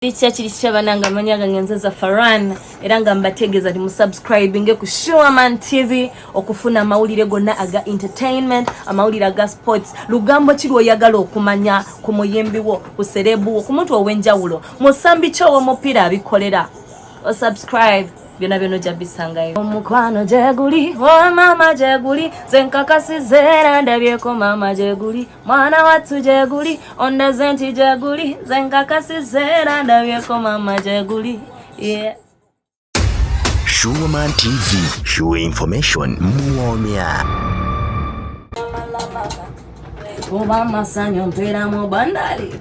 Kya kiri kitya banange amanya gange nze za Faran era nga mbategeeza nti musubscribinge ku Showerman TV okufuna amawulire gonna aga entertainment amawulire aga sports lugambo ki lwoyagala okumanya ku muyimbi wo ku serebu wo ku muntu ow'enjawulo musambi ki ow'omupiira abikolera osubscribe byona byona ojja bisangayo omukwano gyeguli o oh, maama gyeguli zenkakasizeera ndabyeko maama gyeguli mwana wattu gyeguli ondaze nti gyeguli nze nkakasiza era ndabyeko maama gyeguli yeah. Shuwoman TV, sure information muwoomya kuba amasanyu mpeera mu bandali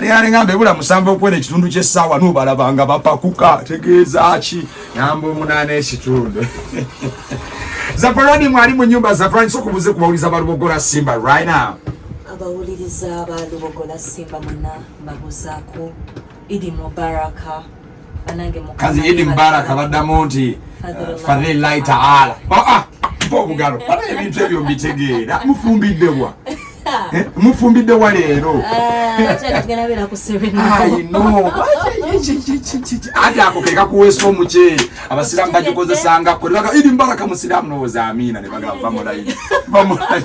Nayale ngambe bula musamba okwera ekitundu ky'essaawa n'obalabanga bapakuka tegeeza ki namba omunaana ekitundu zafarani mwali mu nyumba zafarani soka obuze ku bawuliza ba lubogola simba right now abawuliriza ba lubogola simba muna mbabuzaako idi mubaraka kazi idi mubaraka baddamu nti fadhillahi taala aa mpa obugalo bana ebintu ebyo mbitegeera mufumbiddebwa eh, mufumbiddewa leero ati ako kekakuweesa omuceeri abasiraamu bagikozesangako idi mubaraka musiraamu nowooza amiina ne bagamba bamulayi bamulayi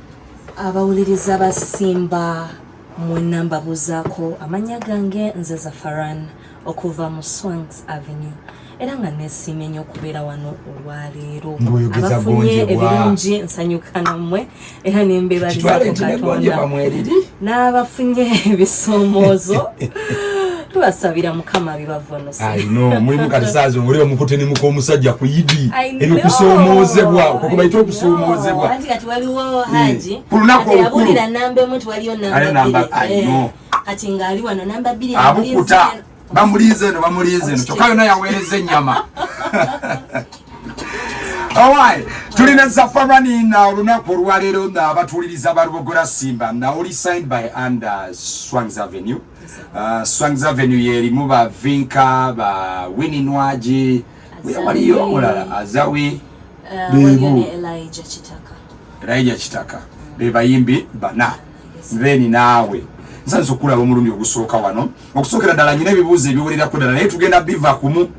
abawuliriza ba simba mwena mbabuuzaako amannya gange nze zafaran okuva mu swangs avenue era nga nesiimye nnyo okubeera wano olwaleero abafunye ebirungi nsanyuka nammwe era nembeebalizako katonda n'abafunye ebisoomoozo tubasabira mukama bibavano mulimu kati saazi oli omukute ne muka omusajja ku idi ebyo kusoomoozebwa okwo kwe bayita okusoomoozebwa ku lunaku olukulu abukuta bamulinze eno bamulinze eno kyokka yona yaweereza ennyama Alright, tulina zafarani na olunaku olwaleero nga abatuuliriza balubogora simba na oli signed by and uh, swangz avenue Uh, Swangz Avenue yerimu ba Vinka ba Winnie Nwaji waliyo omulala Azawi uh, bebu Elijah Kitaka Elijah Kitaka mm. be bayimbi bana then naawe nsanze okulaba omulundi ogusooka wano okusookera ddala nyina ebibuuzo ebiwererako ddala naye tugenda biva kumu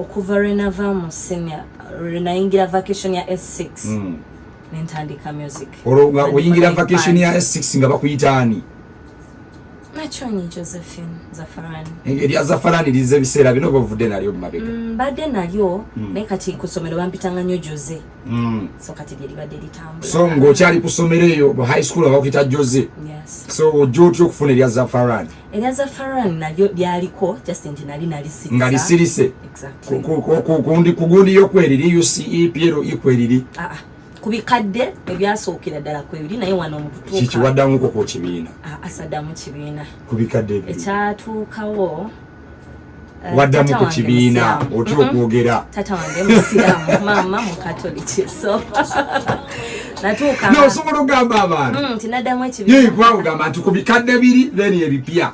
okuva lwe nava mu senior lwe nayingira vacation ya s6 mm. nentandika music olwo nga oyingira vacation ya s6 nga bakuyita ani nakyonyi josephine zafarani erya zafarani lize ebiseera bino oba ovudde nalyo mumabega mm, mbadde nalyo mm. naye kati ku ssomero bampitanga nnyo jose mm. so kati lyeribadde litambula so ng'okyali ku ssomero eyo high school abakuyita jose so ojja otya okufuna erya zafarani erya zafaran nalyo lyaliko just nti nali nalisirise nga lisirise kundi kugundi yo kweriri uce piero ikweriri ah, ah. ku bikadde ebyasookera ddala kwebiri naye wano mukutuukakikiwaddamuko ku kibiina ah, asadamu kibiina ku bikadde ekyatuukawo Eh, waddamu ku kibiina otya okwogera tata wange musiramu maama mukatoliki so natuukaosobola okugamba abantu mm, tinaddamu ekibiinakugamba nti ku bikadde biri then ebipya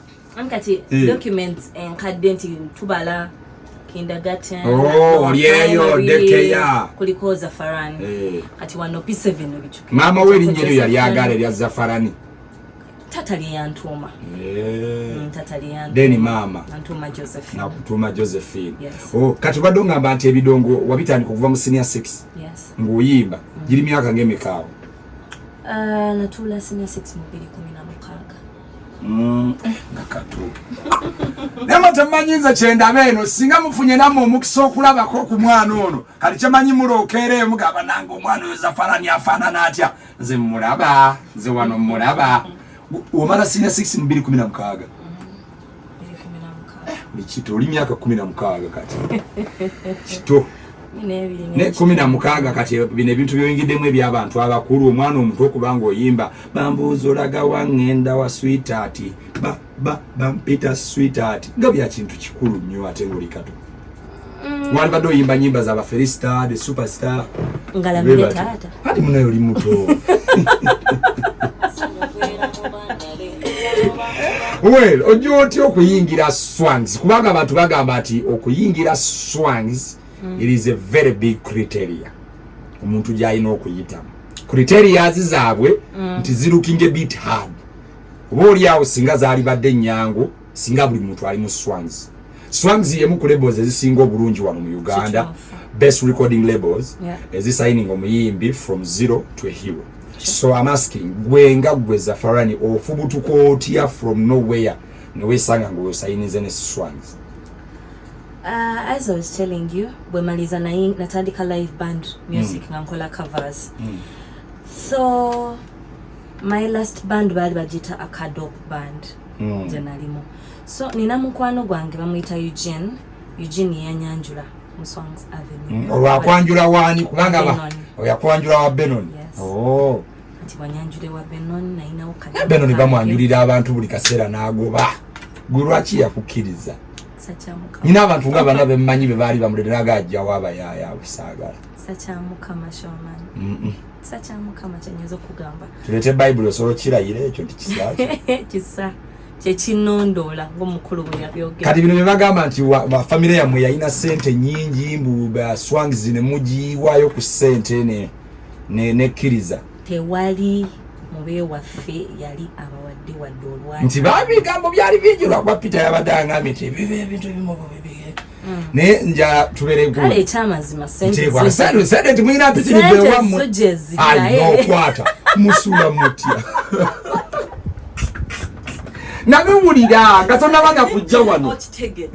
kati eh. documents enkadde nti tubala olyeyo dekeya kuliko zafarani eh. kati wano p7 maama we erinyeryo yali agala erya zafarani tata lyeyantuma eh. mm, tata lyeyantuma then mama antuma josephine nakutuma josephine yes. oh, kati ubadde ongamba nti ebidongo wabitandika okuva mu senior 6 yes. ng'oyimba mm. giri myaka ng'emikaawo uh, ah, natuula senior 6 mu biri kumi na mukaaga mm. eh, nakatuuka nama temanyi nze kyendaba eno singa mufunye namwe omukisa okulabako ku mwana ono kati kyemanyi mulookeereyo mugamba nange omwana oyo zafarani afaanana atya nze mulaba nze wano mulaba omala sina 6 mu 2016 kito oli myaka kumi na mukaaga kati kito ne kumi na mukaaga kati bino ebintu byoyingiddemu ebyabantu abakulu omwana omuto okubanga oyimba bambuuza olaga wangenda wa switaati ba bampita sweetheart nga bya kintu kikulu nnyo ate ngoli kato mm. wali bado yimba nyimba za baferista the superstar ngala mire tata hadi muna yoli muto well ojo oti okuyingira swans kubanga abantu bagamba ati okuyingira swans mm. it is a very big criteria omuntu gyalina okuyitamu criteria zizabwe mm. nti zirukinge bit hard oba oli awo singa zaalibadde ennyangu singa buli muntu ali mu swans swans yemu ku labels ezisinga obulungi wano mu uganda best recording labels yeah. ezisigning omuyimbi from zero to a hero so am asking gwe nga gwe zafarani ofubutuka otya from nowhere newesanga ngaosayininze ne swans Uh, as I was telling you, bwemaliza natandika live band music mm. nga nkola covers mm. so my last band baali bagiyita acadop band mm. gye nalimu so nina mukwano gwange bamuyita eugene eugene yanyanjula mu songs avenue mm. olwakwanjula waani kubanga oyakwanjula wa benon yes. oh. benon bamwanjulira abantu buli kaseera n'agoba gwe lwaki yakukkiriza nina abantu nga bana bemumanyi bebaali bamuleteraaga ajjawo abayaaya abusaagala sakyamukama shoman mm -mm. kisa kya mukama kyenyinza okugamba tuleete bayibuli osobola okukirayira ekyo nti kisa kisa kyekinondoola ngaomukulu bwe yabyogera kati bino byebagamba nti famire yammwe yalina sente nyingi mbu swangz ne mugiwaayo ku sente nekkiriza tewali mubewaffe yali abawadde wadde olwa nti babigambo byali bingi lwakuba peter yabadde angambye nti ebiba ebintu ebimu mm. naye njala tubeere gulu ekyamazima sente sente sente nti mulina mpitiri bewamu ayo okwata musula mutya nabiwulira nga tonabanga kujja wano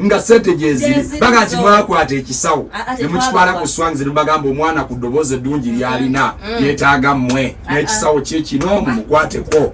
nga sente gyeziri baga nti mwakwata ekisawo ah, ah, nemukitwala ku swanzi nebagamba omwana ku ddoboozi eddungi lyalina mm. yetaaga mmwe n'ekisawo kyekino mumukwateko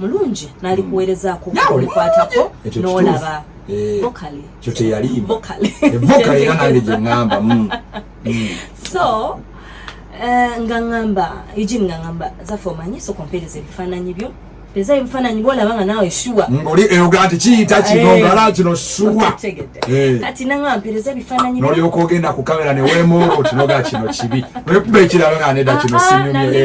mulungi nalikuwerezaako hmm. okukwatako nolaba eh, kyo teyaliiba eh, era nange gyeŋamba hmm. hmm. so eh, nga ŋamba ijin nga ŋamba zafe omanyi soka ompeereza ebifaananyi byo eza ebifaananyi bwolaba nga naawe shuwa oli eyoga nti kiyita kino ngala kino shuwa kati naŋa mpeereza ebifaananyi nolyoka ogenda ku kamera neweemuula otinoga kino kibi nekuba ekirala nga neda kino ah, ah, sinyumye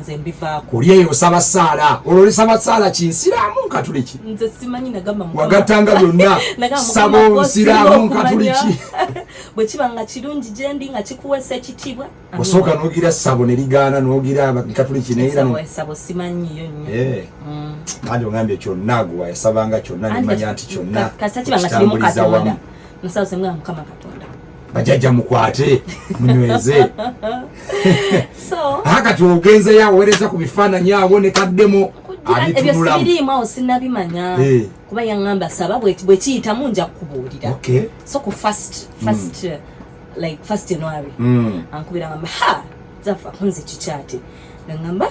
nze mbivaako oli eyo osaba saala olwo olisaba saala ki nsiraamu nkatuliki nze simanyi nagamba wagatanga byonna saba onsiraamu nkatuliki bwe kiba nga kirungi gye ndi nga kikuweesa ekitiibwa osooka n'ogira sabo ne ligaana n'ogira nkatuliki neyerasabo simanyiyo nnyo eh. mm. nange ogambye kyonna gwe yasabanga kyonna nemanya nti kyonna kitambuliza wamu bajajja mukwate munyweze aha kati ogenzeyo awereza ku bifaananyi awo ne kaddemu abitunulamuebyo sinabimanya eh. kuba yaŋamba saba bwekiyitamu nja kukubuulira so ku first first mm. like first january mm. ankubira ŋamba ha zafa kunze kikyate naŋamba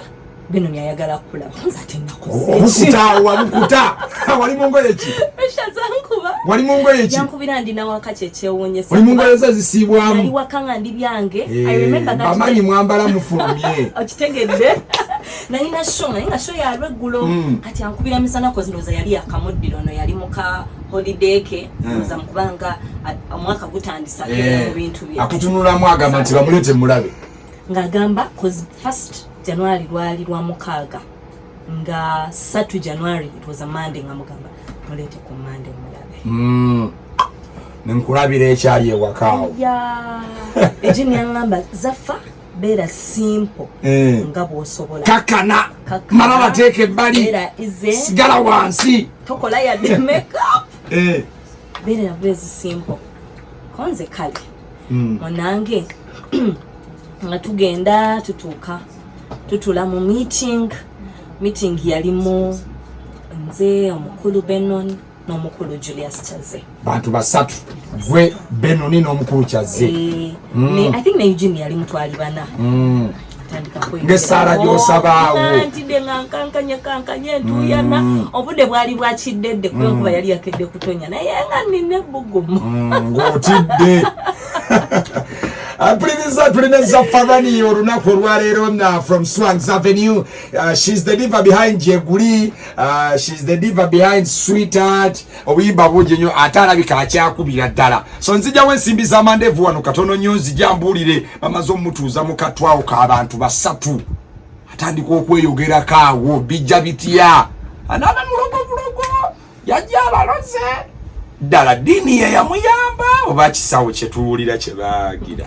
bino byayagala kulaba nzatennakuzekitaawa bukuta wali mungoye ki eshazankuba wali mungoye ki yankubira ndi nawaka kyekyewunyesa wali mungoye ze zisiibwamu nali waka nga ndi byange eh, bamanyi mwambala mufulumye okitegedde nalina sho naye nga sho yalwa eggulo mm. kati ankubira misana kozi ndowooza yali yakamuddira ono yali muka holiday ke mm. ndowooza mukubanga omwaka gutandisa eh, mu bintu bye akutunulamu agamba nti bamulete mulabe ng'agamba cause first january lwali lwa mukaaga nga satu january it was a monday nga mugamba muleete ku monday mulabe mm. nenkulabira ekyali ewakaawo ekyo nyaŋamba zaffa beera simple eh. nga bwosobola kakana mala bateeka ebbali sigala wansi tokola yadde makeup eh. beerera bwezi simple konze kale hmm. munange nga tugenda tutuuka tutula mu meeting meeting yalimu nze omukulu benon n'omukulu julius kyaze bantu basatu gwe benoni n'omukulu kyaze eh, hmm. i think ne eugene yalimu twali bana hmm. ngesaala gyosabaawo oh, ntidde nga nkankanye kankanye ntuyana mm. obudde bwali bwakiddedde kubenkuba mm. yali yakedde kutonya naye nga nina ebbugumu mm, ng'otidde mpuliriza uh, tulina za farani olunaku olwaleero uh, from swangs avenue uh, shes the diva behind jeguli uh, shes the diva behind sweetheart obuyimba bungi nnyo ate alabika akyakubira ddala so nzijawo ensimbi za mandevu wano katono nnyo nzija mbuulire bamaze omutuuza mu katwawo k'abantu basatu atandika okweyogerako awo bijja bitya anaaba mulogo bulogo yajja abaloze ddala ddiini ye yamuyamba oba kisawo kye tuwulira kye baagira